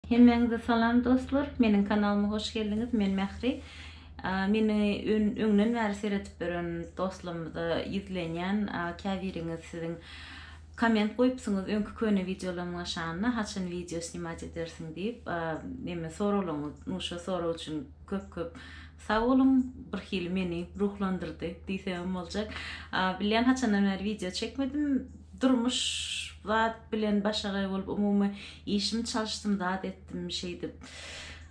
Hemmäňize salam dostlar meniň kanalyma hoş geldiňiz men Mähri meni öňden bäri seredip ýören dostlarymyza ýüzlenýän käbiriňiz siziň komment goýupsyňyz öňki köne wideolaryma şanyna haçan wideo snimat edersiň diýip neme soraglaryňyz nu şo sorag üçin köp köp sag boluň birhili meni ruhlandyrdy diýsemem boljak bilýän haçandan bäri wideo çekmedim durmuş zat bilen başagaý bolup umumy Işimi çalyşdym zat etdim şeýdip.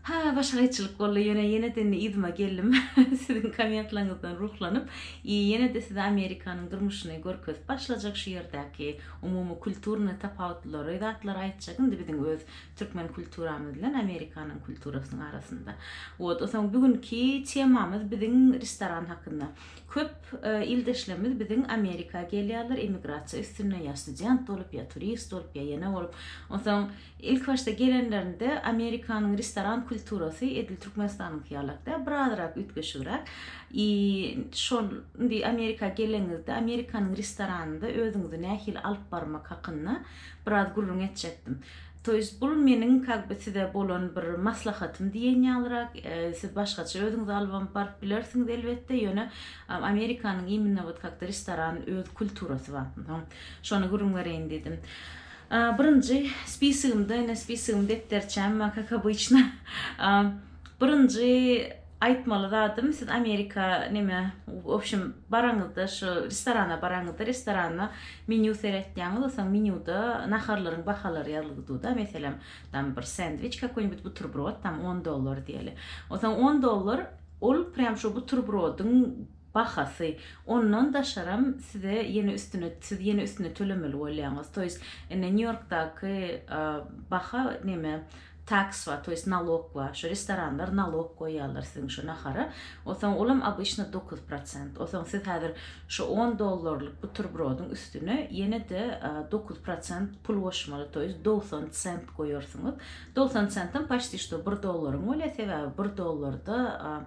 Ha başga gaýçylyk boldy ýöne ýeneden yzyma geldim siziň kommentlaryňyzdan ruhlanyp i ýenede size Amerikanyň durmuşyny görkezip başlajak şu ýerdäki umumy kulturny tapawutlylary zatlary aýtjak indi biziň öz türkmen kulturamyz bilen Amerikanyň kulturasynyň arasynda wot osaň bugünki temamyz biziň restoran hakynda Köp ildeşlerimiz biziň Amerika gelýärler, emigrasiýa üstünde ýa student bolup, ýa turist bolup, ýa ýene bolup. Onsoň ilk başda gelenlerinde Amerikanyň restoran kulturasy edil Türkmenistanyňky ýalak däl, bir azyrak üýtgeşigräk. I şol indi Amerika geleniňizde Amerikanyň restoranynda özüňizi nähili alyp barmak hakynda biraz gürrüň etjekdim. To jest bul meniň kag by size bolan bir maslahatym diýen ýalyrak, siz başgaça özüňizi albam baryp bilersiňiz elbetde, ýöne Amerikanyň immnno wot kak-da restoran öz kulturasy bar. Soň şony gürrüň bereýin diýdim. Birinji spisygymda, ine spisygym depderçäm, kak obyçno, birinji Aýtmaly zadym siz Amerika neme w obşem baraňyzda şu restorana baraňyzda restoranda menýu seretýäňiz o soň menýuda naharlaryň bahalary ýazly gduda meselem tam bir sendwiç kakoý nibit buterbrod tam on dollar diýeli o soň on dollar ol prýam şo buterbrodyň bahasy ondan daşaram size ýene üstüne siz ýene üstüne tölemeli bolýaňyz toýs indi nýu ýorkdaky baha neme Taks bar, to ýest nalok bar. Şu restoranlar nalok goýýarlar siziň şu nahara. Onsoň olam obyçno dokuz prosent. Onsoň siz häzir şu on dollarlyk buterbrodyň üstüne ýene-de dokuz prosent pul goşmaly, to ýest dogsan sent goýarsyňyz. Dogsan sentam paçti şto bir dollaryň bolýar, sebäbi bir dollarda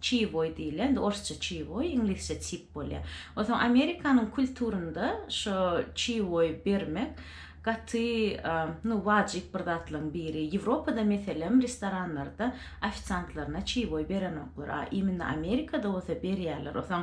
Çiýboý diýilýär. Indi orsça çiýboý, iňlisçe cheap bolýar. Onsoň Amerikanyň kulturynda şo çiýboý bermek gaty, nu, wajyp bir zatlaryň biri. Ýewropada meselem restoranlarda ofisiantlaryna çiýboý berenoklar. A imенно Amerikada bolsa berýärler. Onsoň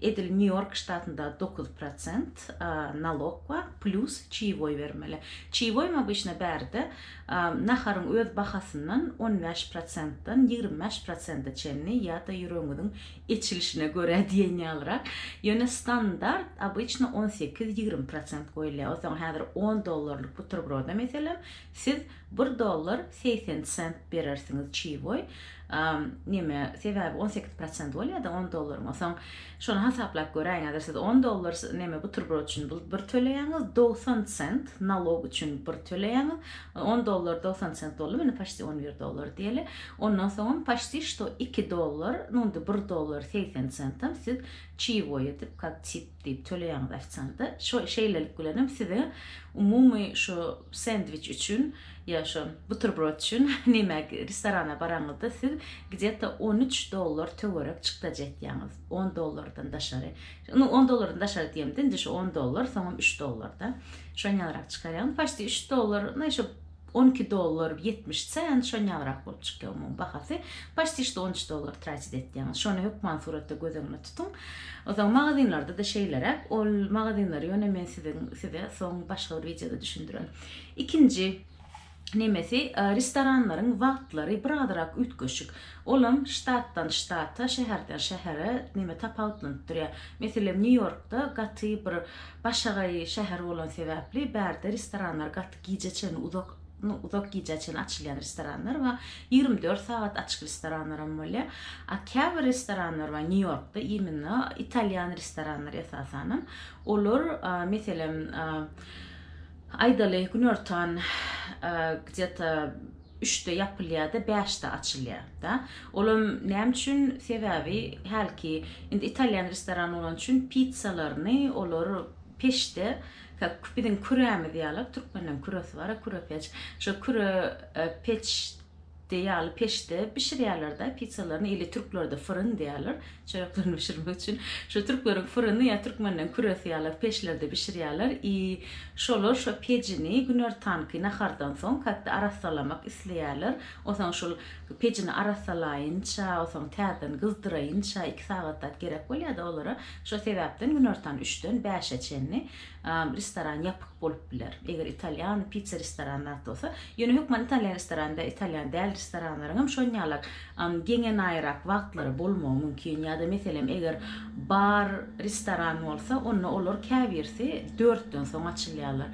Edil Nýu-Ýork ştatynda dokuz prosent nalok bar, plýus çeýwoý bermeli. Çeýwoýyň obýçna bärde naharyň öz bahasyndan on bäş prosentden ýigrimi bäş prosente çenli ýa-da ýüregiňiziň eçilişine görä diýen ýalyrak, ýöne standart obýçna on sekiz, ýigrimi prosent goýulýar. Onsoň häzir on dollarlyk buterbrode meselem Siz bir dollar segsen sent berersiňiz çiwoý neme sebäbi on sekiz prosent bolýada on dollaryň soň şony hasaplap göräýiň häzir siz on dollar neme buterbrod üçin bir töleýäňiz dogsan sent nalog üçin bir töleýäňiz on dollar dogsan sent boldy indi paşti on bir dollar diýeli ondan soňam paşti şto iki dollar indi bir dollar segsen sentam siz çiwoý edip kak diýip töleýäňiz ofisianta. Şo şeýlelik bilenem size umumy şo sendwiç üçin ýa şo buterbrod üçin näme restorana baraňyzda siz gdeta on üç dollar töwerek çykdajy etýäňiz. On dollardan daşary. Indi on dollardan daşary diýemde indi şo on dollar soňam üç dollarda. Şony ýaňyrak çykarýaňyz. Paçti üç dollar, naý şo On iki dollar ýetmiş sent şo nagrak bolup çykýa umumy bahasy paşti şto on üç dollar tratit etýäňiz şony hökman suratda göz öňüne tutuň ozan magazinlarda da şeýleräk ol magazinlary ýone men siziň size soň başga bir wideoda düşündiren ikinji nemesi restoranlaryň wagtlary bir azyrak üýtgeşik olam ştatdan ştata şäherden şähere neme tapawutlanyp durýa meselem nýu ýorkda gaty bir başagaý şäher bolan sebäpli bärde restoranlar gaty gijä çenli uzak nu uzak gijä çenli açylýan restoranlar we ýigrimi dört sagat açyk restoranlar hem bolýar a käbir restoranlar bar nýu ýorkda immino italýan restoranlary esasanam olar meselem aýdaly günortan gdje to üçde ýapylýada bäşde açylýar da olam näme üçin sebäbi hälki indi italýan restoran bolany üçin pitsalaryny olar peçde Kök biziň kürämiz ýaly, türkmenleriň küresi bar, kürepeç. Şo küre peç diýýärler, peçde bişirýärler-de pitsalaryny ili türklerde fıryn diýýärler, çöreklerini bişirmek üçin. Şo türkleriň fıryny ýa türkmenleriň küresi ýaly peçlerde bişirýärler i şolar şo pecini günortanky nahardan soň käte arassalamak isleýärler. Onsoň şol pecini arassalaýynça, onsoň täzeden gyzdyraýynça iki sagat zat gerek bolýar-da olara. Şo sebäpden günortan üçden bäşe çenli restoran ýapyk bolup biler. Eger italýan pitsa restorany zat bolsa, ýöne hökman italýan restorany we italýan däl restoranlaryň hem şonýalar geňenaýrak wagtlary bolmagy mümkin. Ýa-da meselem eger bar restoran bolsa, onda olar käbirisi dörtden soň açylýarlar.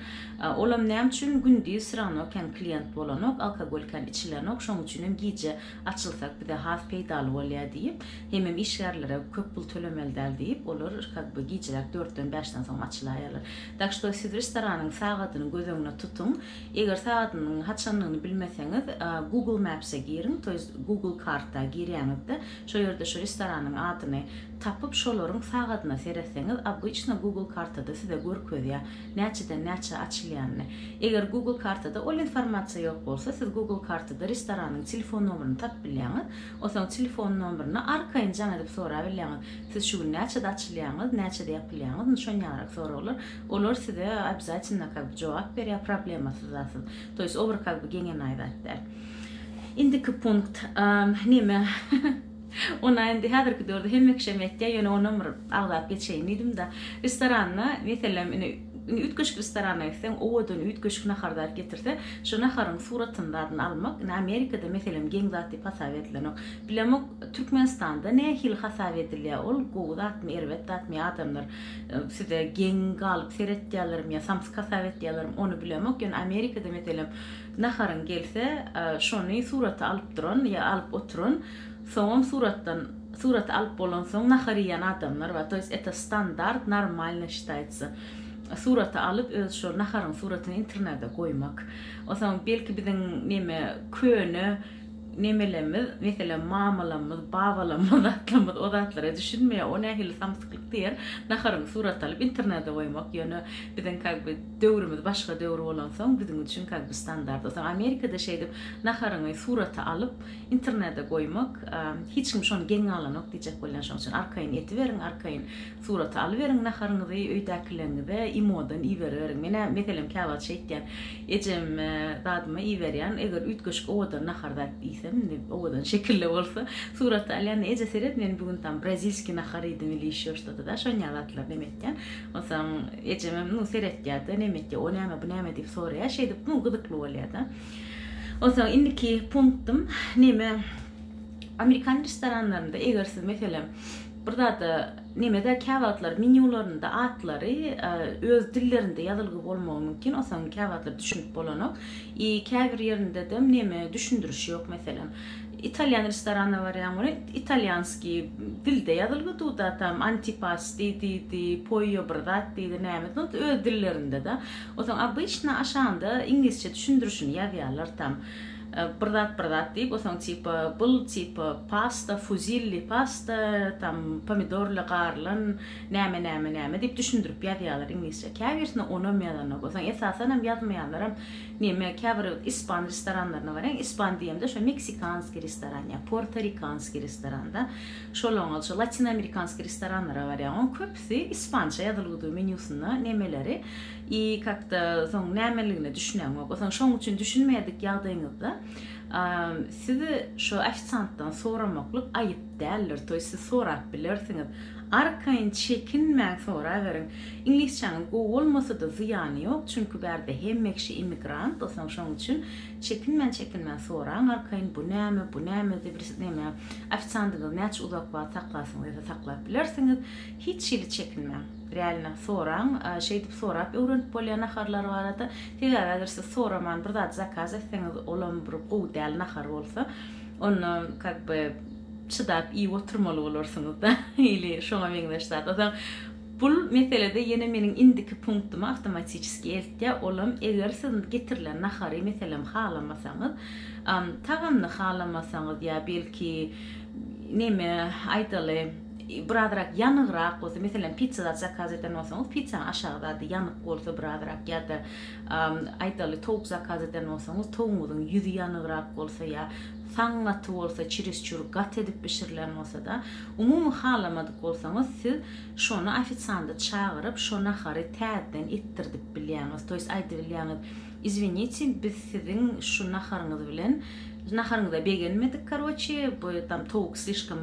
Olam näme üçin gündiz wsýrawno kän klient bolanok, alkogol kän içilenok, şoň üçin hem gije açylsak bize has peýdaly bolýar diýip, hemem işgärlere köp pul tölemeli däl diýip, olar kak be gijeräk dörtden bäşden soň açylaýarlar. Tak što siz restoranyň sagadyny göz öňüne tutuň. Eger sagadynyň haçandygyny bilmeseňiz, Google Maps-e giriň, to ýest Google karta girýäňizde, şo ýerde şu restoranyň adyny tapyp, şolaryň sagadyna seretseňiz, obýçna Google kartada size görkezýär. näçeden näçä açylýanyny. Eger Google kartada ol informasiýa ýok bolsa, siz Google kartada restoranyň telefon nomerini tapyp bilýäňiz. Onsoň telefon nomerini arkaýyn jaň edip sorap bilýäňiz. Siz şu gün näçede açylýaňyz, näçede ýapylýaňyz, indi şon ýaňyrak soraglar. Olar size obýazatynda kak bi jogap berýär, problemasyz zatsyz. To ýest o bir kak bi geňenaý zat däl. Indiki punkt, neme? Ony indi häzirki döwürde hemme kişem etýär, ýöne onam bir agzap geçeýin diýdim-de, restoranda, meselem, indi üýtgeşik restorana gitseň, owadan üýtgeşik nahar zat getirse, şo naharyň suratyny, zadyny almak, indi Amerikada, meselem, geň zat diýip hasap edilenok. Bilemok, Türkmenistanda nähili hasap edilýär ol, gowy zatmy, erbet zatmy ýa adamlar size geň galyp seretýärlermi ýa samsyk hasap etýärlermi, ony bilemok, ýöne Amerikada, meselem, naharyň gelse, şony suraty alyp duran ýa alyp oturan, Soňam suratdan suraty alyp bolansoň nahar iýýän adamlar bar to ýest eta standart normalno şitaýtsa suraty alyp öz şo naharyň suratyny internede goýmak osaň belki biziň neme köne nemelerimiz meselem mamalamyz babalamyz atlamyz o zatlara düşünmeýär o nähili samsyklyk diýer naharyň suraty alyp internede goýmak ýöne biziň kag by döwrümiz başga döwür bolansoň biziň üçin kag by standart osaň amerikada şeýdip naharyňy suraty alyp internede goýmak hiç kim şony geň galanok diýjek bolýan şoň üçin arkaýyn etiberiň arkaýyn surat alyberiň naharyňyzy öýdäkileriňize imodan iberiberiň menä meselem käwagt şeýtýän ejem dadyma iberýän eger üýtgeşik owadan nahar zat iýsem indi owadan şekilde bolsa surat alýan eje seret men bu gün tam brazilskiý nahar iýdim ili ýeşo ştada da şonýa zatlar neme etýän onsoň ejemem nu seretýärde neme etýär o näme bu näme diýip soraýar şeýdip nu gyzykly bolýarda. Onsoň indiki punktym neme amerikan restoranlarynda eger siz meselem bir zada nemede käwagtlar menýularynda atlary öz dillerinde ýazylgy bolmagy mümkin onsoň käwagtlar düşünip bolanok i käbir ýerindedem neme düşündiriş ýok meselem italýan restoranyna barýaň welin italýanski dilde ýazylgy duda tam antipasti diýdi poýo bir zat diýdi näme öz dillerinde da Otaň obyçna aşanda iňlisçe düşündirişini ýazýarlar tam bir zat bir zat diýip otaň tipa bul tipa pasta fuzilli pasta tam pomidorly garylan näme näme näme diýip düşündirip ýazýarlar iňlisçe käbirsine onam ýazanok otaň esasanam ýazmaýanlaram neme käbir ispan restoranlaryna baryň ispan diýemde şo meksikanski restoran ýa portorikanski restoranda şolaňňaça latinoamerikanski restoranlara barýaň oň köp Ýeňlisi ispança ýazylgydygy menýusynda nemeleri i kakda soň nämeligine düşünäňok. Osaň şoň üçin düşünmeýädik ýagdaýyňyzda sizi şo ofisantdan soramaklyk aýyp däldir toý siz sorap bilersiňiz. Arkaýyn çekinmäň soraberiň. Iňlisçäňiz gowy bolmasada zyýany ýok çünki bärde hemme kişi immigrant osaň şoň üçin Çekinmän çekinmän soraň arkaýyn bu näme bu näme zibris näme ofisiandyňyz näçe uzak wagt saklasyn dese saklap bilersiňiz hiç hili çekinmäň realno soraň şeýdip sorap öwrenip bolýar naharlar barada sebäbi eger siz soraman bir zat zakaz etseňiz olam bir gowy däl nahar bolsa onda kak by çydap iýip oturmaly bolarsyňyzda ili şoňa meňzeş zat o zaman Bul meselede ýene meniň indiki punktyma awtomatiçeski eltýär, olam eger siz getirilen nahary meselem halamasaňyz, tagamyny halamasaňyz ýa belki neme aýdaly birazrak ýanygrak bolsa, meselem pitsa zat zakaz eden bolsaňyz, pitsanyň aşagy zady ýanyk bolsa birazrak ýa-da aýdaly towuk zakaz eden bolsaňyz, towugyňyzyň ýüzi ýanygrak bolsa ýa saň gaty bolsa, çirisçur gaty edip bişirilen bolsada, umumy halamadyk bolsaňyz siz Şony ofisiandy çagyryp şo nahary täzden etdirdip bilýäňiz to ýest aýdybilýäňiz izwiniti biz siziň şu naharyňyz bilen naharyňyza begenmedik karoçi bu tam towuk slişkom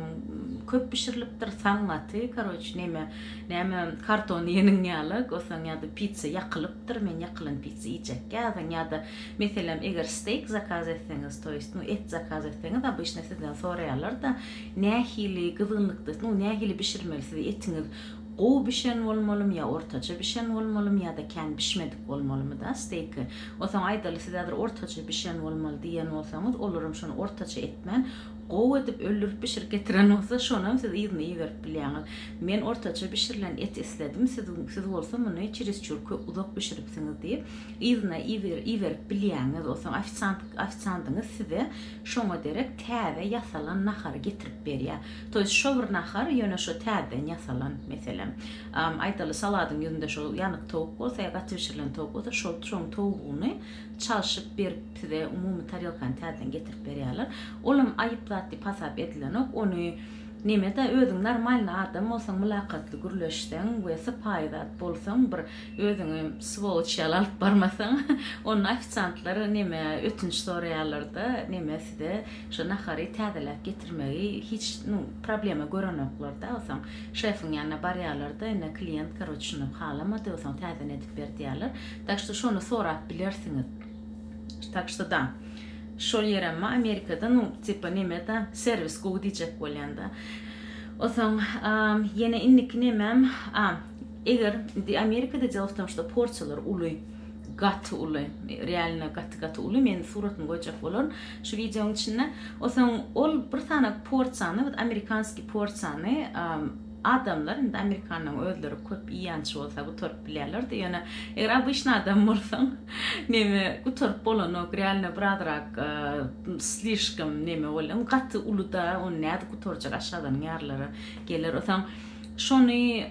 köp bişirilipdir saňňaty karoçi neme näme karton ýeniň ýaly gosaň ýada pitsa ýakylypdyr men ýakylan pitsa iýjek ýazyň ýada meselem eger steýk zakaz etseňiz to ýest nu et zakaz etseňiz obyşna sizden soraýarlarda Nähili gyzgynlykdasynyz, nähili bişirmelisiz, etiňiz gowy bişen bolmalymy ýa ortaça bişen bolmalymy ýa-da kän bişmedik bolmalymy da steýki. Onsoň aýdaly siz häzir ortaça bişen bolmaly diýen bolsaňyz, olaram şony ortaça etmän, gowy edip öldürip bişirip getiren bolsa, şonam siz yzyna iberip bilýäňiz. Men ortaça bişirilen et isledim, siz siz bolsa muny çerizçur köp uzak bişiripsiňiz diýip, yzyna iberip bilýäňiz. Onsoň ofisiant ofisandyňyz size Şoňa derek täze ýasalan nahary getirip berýär. To ýest şo bir nahar, ýöne şo täzeden ýasalan. Meselem, aýdaly, saladyň ýüzünde şo ýanyk towuk bolsa ýa gaty bişirilen towuk bolsa, şo şoň towugyny çalşyp berip, size umumy tarelkany täzeden getirip berýärler. Olam aýyp zat diýip hasap edilenok. Ony neme-da, özüň normalny adam bolsaň, mylakatly gürleşseň we sypaýy zat bolsaň, bir Özüňi swoloç ýaly alyp barmasaň, onda ofisiantlar neme ötünç soraýarlar-da, neme size şo nahary täzeläp getirmegi hiç, nu, problema görenoklar-da, osaň şefiň ýanyna barýarlar-da, ine, klient, karoç, şuny halamady, osaň täzeni edip ber diýýärler. Tak što şony sorap bilersiňiz. Tak što da, şol ýerem-a Amerikada, nu, tipa neme-da, serwis gowy diýjek bolýan-da. Osaň, a, ýene indiki nemem, a, Eger indi Amerikada jylawtançda porsiýalar uly, gaty uly, realno gaty gaty uly, men suratyny goýjak bolaryn şu wideonyň içinde. Osaň ol bir sany porsiýany, bir amerikanskiý porsiýany adamlar, indi amerikanlaryň özleri köp iýýänçy bolsa gutaryp bilýärler-de, ýöne eger obyçny adam bolsaň, neme gutaryp bolanok, realno birazrak slişkom neme bolýar, gaty uly-da, ony nädip gutarjak, aşgazanyň ýarylary geler. Osaň Şony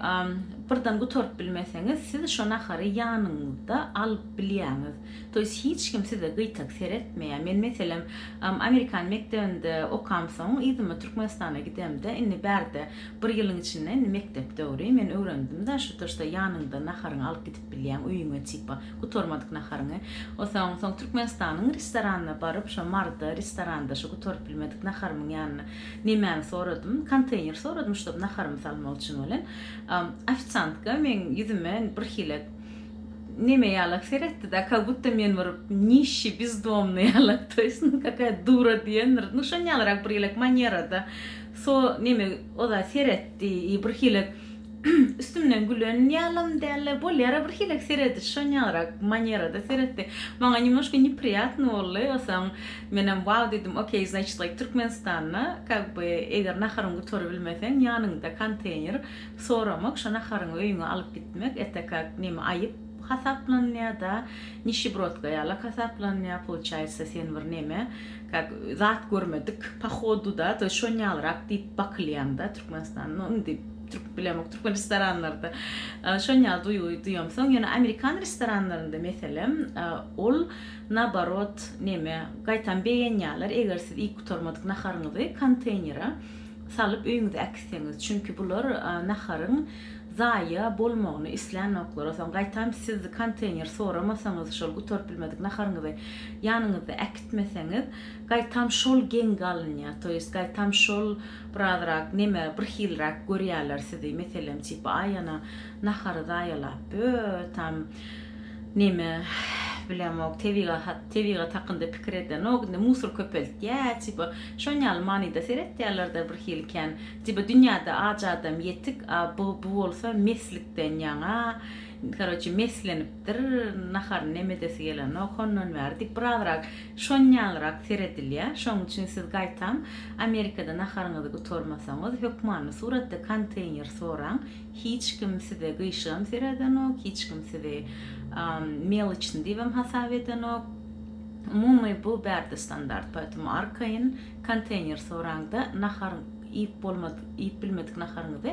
birden gutaryp bilmeseňiz, siz şo nahary ýanyňyzda alyp bilýäňiz. To ýest hiç kim size gyýtak seretmeýär. Men meselem Amerikan mekdebinde okamsoň yzyma Türkmenistana gidemde, indi bärde bir ýylyň içinde indi mekdep döwri, men öwrendimda şo to ýeste ýanyňda naharyňy alyp gidip bilýäň öýüňe tipa gutarmadyk naharyňy. Osaň soň Türkmenistanyň restoranna baryp şo marda restoranda şo gutaryp bilmedik naharymyň ýanyna Nemäni soradym? Konteýner soradym, ştob naharymy salmak üçin welin, ofisiantka meň ýüzüme birhili neme ýalak seretdi-de, ka gutda men bir nişşi, bizdomny ýalak, to ýest, nu, kakaýa dura diýendir, nu, şonýalyrak birhili manýerada so, neme, oda seretdi i birhili Üstümden gülen ýalam däldi. Bolýar-a birhili serediş şonýagrak manerada seretdi. Maňa nemoşka nepriýatno boldy. Soň menem wau diýdim, okey, znaçit gaýt Türkmenistana, kak by eger naharyňy gutarabilmeseň ýanyňda konteýner soramak, şo naharyňy öýüňe alyp gitmek ete kak neme aýyp hasaplanýada, nişibrodka ýalak hasaplanýa, poluçaýsa sen bir neme, kak zat görmedik pohoduda, to şonýagrak diýip bakylýaňda Türkmenistana, no indi. Türk bilemok, türkmen restoranlarda şon ýaly duýgy duýam. Soň ýöne amerikan restoranlarynda meselem, ol naobarot neme, gaýtam begenýärler, eger siz iýip gutarmadyk naharyňyzy konteýnere salyp öýüňize äkitseňiz. Çünki bular naharyň zaýa bolmagyny islänoklar. Soň gaýtam siz konteýner soramasaňyz, şol gutaryp bilmedik naharyňyzy ýanyňyzda äkitmeseňiz, gaýtam şol geň galynýar. Toýest gaýtam şol Birazrak neme birhilräk görýäler sizi meselem çyp aý ana nahary zaýalap bö tam neme bilemok tebigahat tebigat hakynda pikir edenok indi musur köpeltýä çyp şon ýaly manyda seretýälerda birhili kän çyp dünýäde aç adam ýetik a bu bu bolsa meslikden ýaňa karoçe meslenipdir naharyny neme edesi gelenok hondan bäri diýip birazrak Şon ýalyrak seredilýär, şoň üçin siz gaýtam Amerikada naharyňyzy gutarmasaňyz, hökmany suratda konteýner soraň, hiç kim size gyşygam seredenok, hiç kim sizi meloçny diýibem hasap edenok. Umumy bu bärde standart, poýtom arkaýyn konteýner soraňda nahar iýip bolmadyk, iýip bilmedik naharyňyzy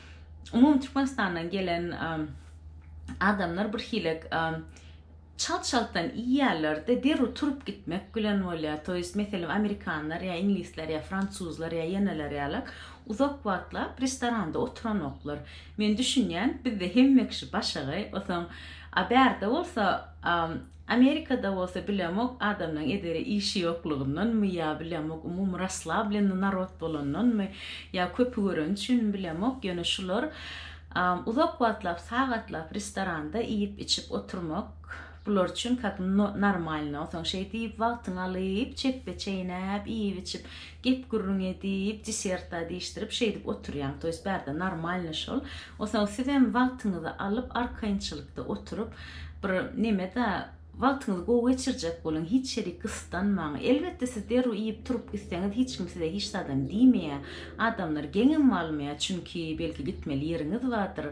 umumy Türkmenistandan gelen adamlar bir hilek çalt-çaltdan iýýärler-de, derrew turup gitmek bilen bolýar. To ýest, meselem, amerikanlar ýa iňlisler ýa fransuzlar ýa ýeneler ýaly uzak wagtlap restoranda oturanoklar. Men düşünýän, bizde hemme kişi başagaý, osaň, a bärde bolsa Amerikada bolsa bilemok adamlaň edere işi yoklugyndanmy ya bilemok umumy raslablenni narod bolandanmy ya köpi göreni üçinmi bilemok yöne şular uzak wagtlap sagatlap restoranda iyip içip oturmak bular üçin kak normalno soň şeýdip wagtyňy alyp çepbe çeýnäp iyip içip Gep-gürrüň edip, diserta diýişdirip şeýdip oturýaň, to ýest bärde normalny şol. Osaň sizem wagtyňyzy alyp, arkaýynçylykda oturyp, bir neme-de, wagtyňyzy gowy geçirjek boluň, hiç ýeri gyssanmaň. Elbetde siz derrew iýip-turup gitseňiz, hiç kim size hiç zadam diýmeýär. Adamlar geňem almaýar, çünki belki gitmeli ýeriňiz bardyr.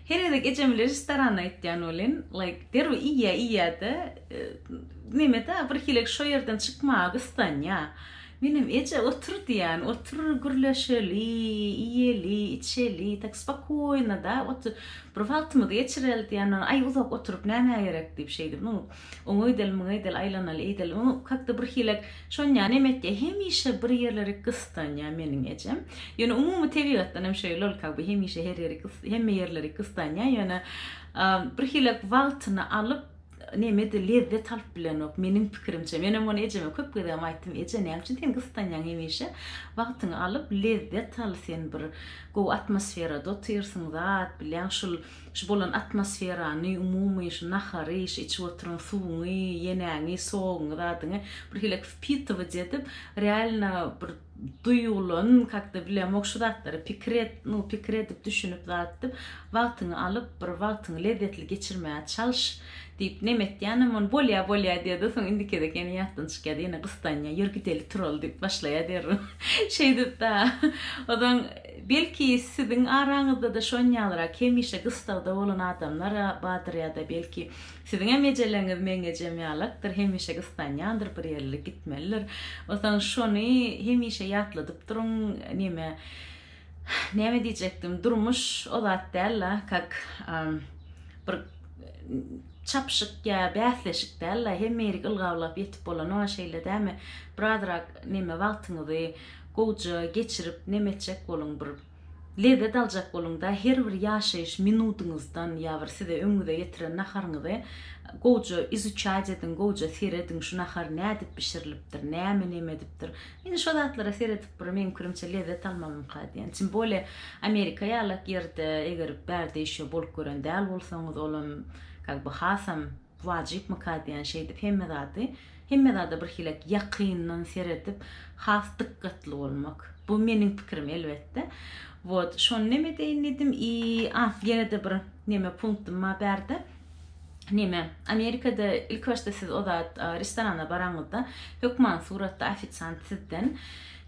Her gezek ejemi režistorana aýtýan welin, like, derrew iýýä iýýä-de, neme-dä, birhilek şo ýerden çykmaga gyssanýa. Menem, Eje, otur diýýän, otur, gürleşeli, iýeli, içeli, tak spokojno-da, otur, bir wagtymyzy geçireli diýýän, aý, uzak oturyp nämä gerek diýip şeýdip, nu, Oňa gideli, muňa gideli, aýlanaly, eýdeli. Oň kakda bir hilek şonýa neme etýä, hemişe bir ýerleri gystanýa meniň ejem. Ýöne umumy tebigatdan hem şeýle ol kaby hemişe her ýeri gys, hemme ýerleri gystanýa, ýöne bir hilek wagtyny alyp, nemedir lezzet alyp bilenok, meniň pikirimçe. Men hem ony ejeme köp gezegem aýtdym, eje näme üçin sen gystanýaň hemişe, wagtyňy alyp lezzet al, sen bir gowy atmosferada otyrsyň zat, bilýäň şul Şu bolan atmosferany, umumy şu nahary, şu içip oturan suwuňy, ýenäňi, soguňy, zadyňy bir hilek wpitować edip, realno bir duýgulan, kak-da bilemok, şu zatlary pikir et, nu, pikir edip, düşünip, zat edip, wagtyňy alyp, bir wagtyňy lezzetli geçirmäge çalyş, diýip, neme etýänem, ony bolýa, bolýa diýer-de, soň indiki gezek ýene ýatdan çykýar-da, ýene gyssanýar, ýör gideli, turali diýip başlaýar derrew. Şeýdip-da, ozan Belki siziň araňyzda-da şonýalyrak hemişe gystagda bolan adamlar-a bardyr ýa-da belki siziňem ejeleňiz meň ejem ýalakdyr, hemişe gyssanýandyr, bir ýerlere gitmelidir. Bolsaň şony hemişe ýatladyp duruň, neme, näme diýjekdim, durmuş o zat däl-la, kak, bir çapyşyk ýa bäsleşik däl-la, hemme ýerik ylgawlap ýetip bolanok-a şeýle dämi, birazrak neme, wagtyňyzy, Gowja geçirip nem etjek boluň bir lezzet aljak boluňda her bir ýaşaýyş minudyňyzdan ýa bir size öňüňize getiren naharyňyzy gowja izuçaýt ediň gowja serediň şu nahar nädip bişirilipdir näme nem edipdir indi şo zatlara seredip bir meň pikirimçe lezzet almamyňka diýen tim bole amerika ýalak ýerde eger bärde işe bolup gören däl bolsaňyz olam kak by hasam Wajypmyka diýen şeýdip hemme zady, hemme zada birhilek ýakyndan seredip, has dykgatly bolmak. Bu meniň pikirim elbetde. Wot, şony nem edeýin diýdim i a, ýene-de bir neme punktum bar bärde. Neme, Amerikada ilkibaşda siz o zat restorana baraňyzda, hökman suratda ofisiant sizden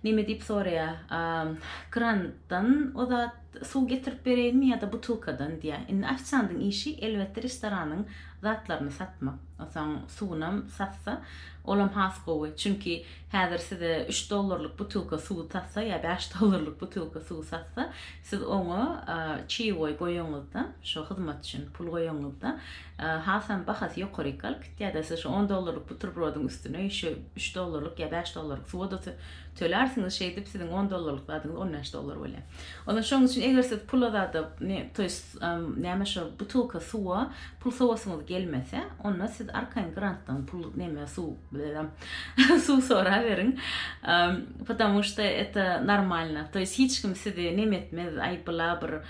neme diýip soraýar, grantdan o zat, Suw getirip bereýinmi ýa-da butylkadan diýýä. Indi ofisiandyň işi elbetde restoranyň zatlaryny satmak. Onsoň suwunam satsa, olam has gowy. Çünki häzir size üç dollarlyk butylka suwy satsa ýa bäş dollarlyk butylka suwy satsa, siz oňa çeýewoý goýanyňyzda, şo hyzmat üçin pul goýanyňyzda, hasam bahasy ýokaryk galyp gitýär-de, siz şo on dollarlyk buterbrodyň üstüne şu üç dollarlyk ýa bäş dollarlyk suwa-da tölärsiňiz, şeýdip siziň on dollarlyk zadyňyz on bäş dollar bolýar. Onda şoň üçin eger siz pul azadyp, ne, to ýest, näme şo butylka suwa pul sowasyňyz gelmese, onda siz arkaýyn grantdan pul, neme, suw, blerem, suw soraberiň. Patamu şda eta normalna. To ýest hiç kim sizi neme etmez, aý bla bir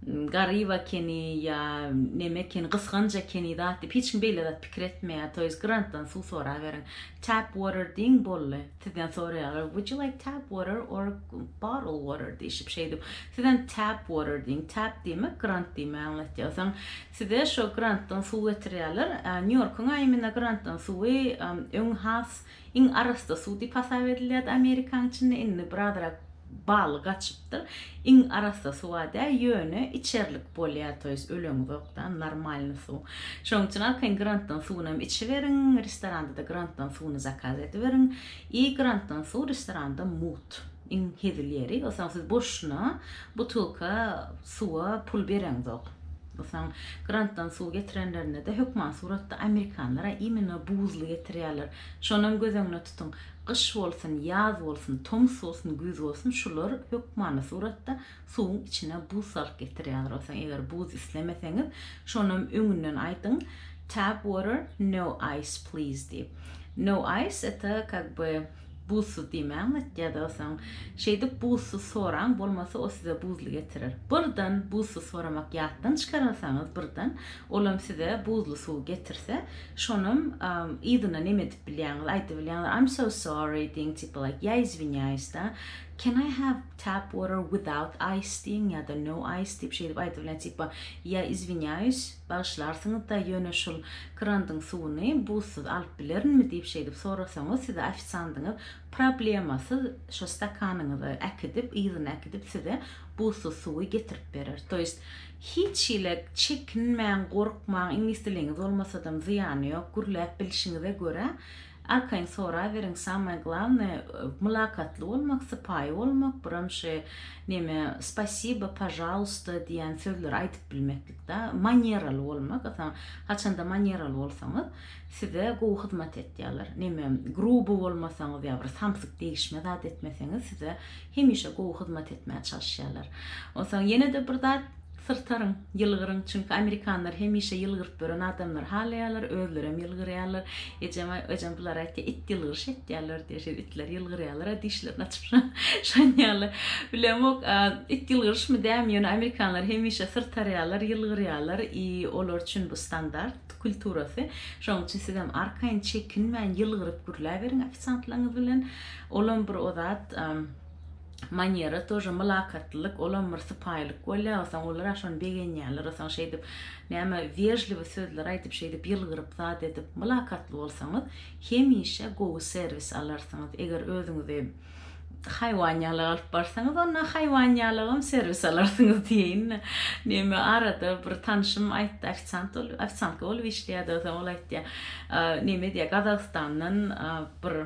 garyp ekeni ýa neme ekeni, gysganç ekeni zat diýip hiç kim beýle zat pikir etmeýär. To ýest grantdan suw soraberiň. Tap water diýiň boldy. Sizden soraýarlar, Would you like tap water or bottle water diýşip şeýdip, sizem tap water diýiň. Tap diýmek grant diýmegi aňladýar. Soň size şo grantdan suw getirýärler. Nýu-Ýorkuň aýymyna grantdan suwy öň has iň arassa suw diýip hasap edilýärdi Amerikanyň içinde, indi birazrak baly gaçyp, bolupdyr. Iň arassa suwa däl ýöne içerlik bolýa to ýest öleňizok da normalny suw. Şoň üçin arkaýyn grantdan suwunam içiberiň, restoranada grantdan suwuny zakaz ediberiň i grantdan suw restoranda mut. Iň hezil ýeri o saň siz boşuna butylka suwa pul bereňzok. O saň grantdan suw getirenlerinde de hökman suratda amerikanlar a imino buzly getirýärler. Şonam göz öňüne tutuň, gyş bolsun, ýaz bolsun, tomus bolsun, güýz bolsun, şular hökmany suratda suwuň içine buz salyp getirýärler. Onsoň eger buz islemeseňiz, şonam öňünden aýdyň, Tap water, no ice please diýip. No ice, eta kak by buzsuz diýmäň, ýa-da onsoň şeýdip buzsuz soraň, bolmasa o size buzly getirer. Birden buzsuz soramak ýatdan çykarmasaňyz birden, olam size buzly suw getirse, Şonam yzyna neme edip bilýäňiz, aýdyp bilýäňiz, I'm so sorry diýiň, tipa like, ýa izwinýaýys da, can I have tap water without ice diýiň ýa-da no ice diýip şeýdip aýdyp bilýän, tipa, ýa izwinýaýys, bagyşlarsyňyz da, ýöne şul krandyň suwuny buzsuz alyp bilerinmi diýip şeýdip sorasaňyz, size ofisiandyňyz problemasyz şo stakanyňyzy äkidip, yzyna äkidip size buzsuz suwy getirip berer. To ýest, Hiç hile çekinmäň gorkmaň iňlis diliňiz bolmasadam zyýany ýok gürläp bilşiňize görä arkaýyn soraýberiň samaýe glavnaýe mylakatly bolmak sypaýy bolmak buram şe neme spasiba pažalusta diýen sözleri aýdyp bilmeklik da maneraly bolmak ysany haçanda maneraly bolsaňyz size gowy hyzmat etýärler neme gruby bolmasaňyz ýa bir samsyk degişme zat etmeseňiz size Hemişe gowy hyzmat etmäge çalyşýarlar. Onsoň ýene-de bir zat, syrtaryň, ýylgyryň. Çünki amerikanlar hemişe ýylgyryp ýören adamlary halaýarlar, özlerem ýylgyrýarlar. Ejem, ejem bular aýtýar, it ýylgyryş etýärler diýýär. Şeýle itler ýylgyrýarlar-a, dişlerini açyp şanýarlar. Bilemok, it ýylgyryşmy, dämi, ýöne amerikanlar hemişe syrtarýarlar, ýylgyrýarlar i olar üçin bu standart kulturasy. Şonuň üçin sizem arkaýyn, çekinmän ýylgyryp gürläberiň ofisiantlaryňyz bilen. Olam bir ozat manýera tor mylakatlylyk olam bir sypaýylyk bolýa osaň olar aşony begenýäler osaň şeýdip näme wežliwi sözler aýdyp şeýdip ýylgyryp zat edip mylakatly bolsaňyz hemişe gowy serwis alarsyňyz eger özüňizi haýwan ýaly alyp barsaňyz onda haýwan ýalygam serwis alarsyňyz diýeýin näme arada bir tanşym aýtdy ofisant ofisantga bolup işleýärdi osaň ol aýtýa näme diýýä gazagystandan bir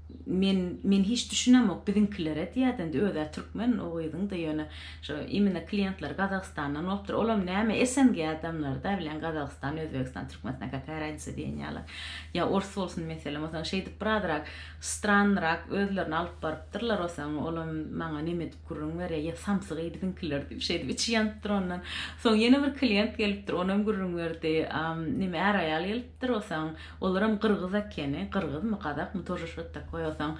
Men men hiç düşünemok biziňkilere diýädindi özä türkmen o gyzyňda ýöne şo imine kliýentleri gazagystandan bolupdyr olam näme SNG adamlaryda bilen gazagystan özbegistan türkmenistan kakaýa raýnisa diýen ýaly ýa ors bolsun meselem osaň şeýdip birazrak strannyrak özlerini alyp barypdyrlar osaň olam maňa neme edip gürrüň berýä ýa samsyk eý biziňkiler diýip şeýdip içi ýanypdyr ondan soň ýene bir kliýent gelipdir onam gürrüň berdi neme är aýal gelipdir. Dur osaň olaram gyrgyz ekeni gyrgyzmy gazakmy тоже şot takoý osaň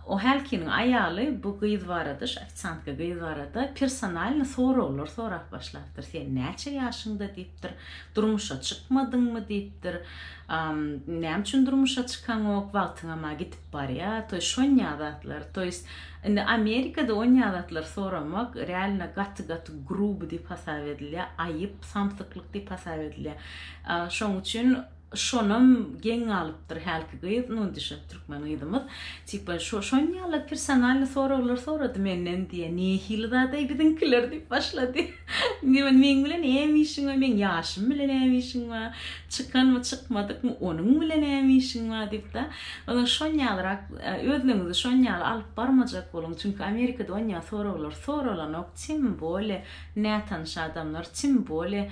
o hälkiniň aýaly bu gyz barada şu ofisiantka gyz barada personalno soraglar sorap başlapdyr sen näçe ýaşyňda diýipdir durmuşa çykmadyňmy diýipdir näme üçin durmuşa çykaňok wagtyňama gidip barýa toý şonýa zatlar to ýest indi amerikada onýa zatlar soramak realno gaty gaty gruby diýip hasap edilýä aýyp samsyklyk diýip hasap edilýä Şoň üçin şonam geň galypdyr hälki gyz, nu düşek türkmen gyzymyz. Tipa şo şon ýaly personalny soraglar sorady menden diýe, nehili zadaý biziňkiler diýip başlady. Diýen meň bilen näme işiň bar, meň ýaşym bilen näme işiň bar, çykanmy çykmadykmy onuň bilen näme işiň bar diýipda. Ondan şon ýalyrak özlüňizi şon ýaly alyp barmajak boluň, çünki Amerikada onýa soraglar soralanok, tim bole nätanyş adamlar, tim bole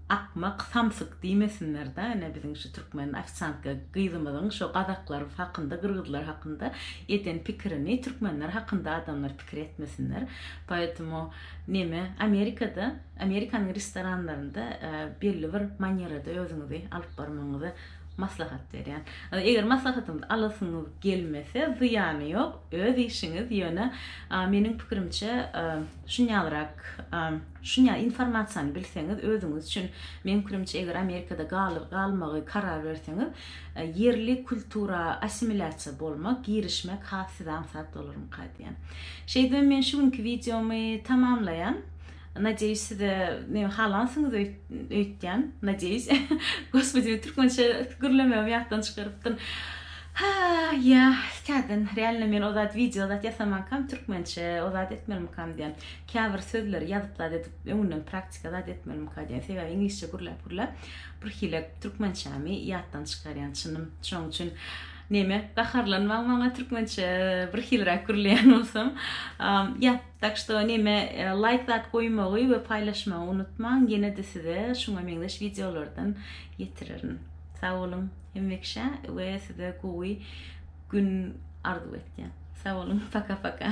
Akmak samsyk diýmesinler da ine biziň şu türkmen ofisiantka gyzymyzyň şo gazaklar hakynda gyrgyzlar hakynda eden pikirini türkmenler hakynda adamlar pikir etmesinler poetemu neme amerikada amerikanyň restoranlarynda belli bir manýerada özüňizi alyp barmagyňyzy maslahat berýän eger maslahatyňyzy alasyňyz gelmese zyýany ýok öz işiňiz ýöne meniň pikirimçe şunýalrak Şunya informasiýany bilseňiz özüňiz üçin meň pikirimçe eger Amerikada galyp galmagy karar berseňiz ýerli kultura assimilýasiýa bolmak girişmek has size aňsat bolarmyka diýen. Şeýdibem men şu günki wideomy tamamlaýan. Nadeýuş size neme halansyňyz öýtýän. Nadeýuş. Gospodi men türkmençe gürlemegimi ýatdan çykarypdym. Haý ýa täzeden realno men ozat wideo zat ýasamankam türkmençe ozat etmelmikam diýen. Käbir sözleri ýazyp zat edip öňünden praktika zat etmelimka diýen sebäbi iňlisçe gürläp gürläp birhili türkmençämi ýatdan çykarýan çynym şoň üçin neme gaharlanmaň maňa türkmençe birhiliräk gürleýän bolsam ýat tak şto neme laýk zat goýmagy we paýlaşmagy unutmaň ýenede size şuňa meňzeş wideolardan ýetirerin sag boluň hemmekiçe we size gowy gün arzuw etýän sag boluň paka paka.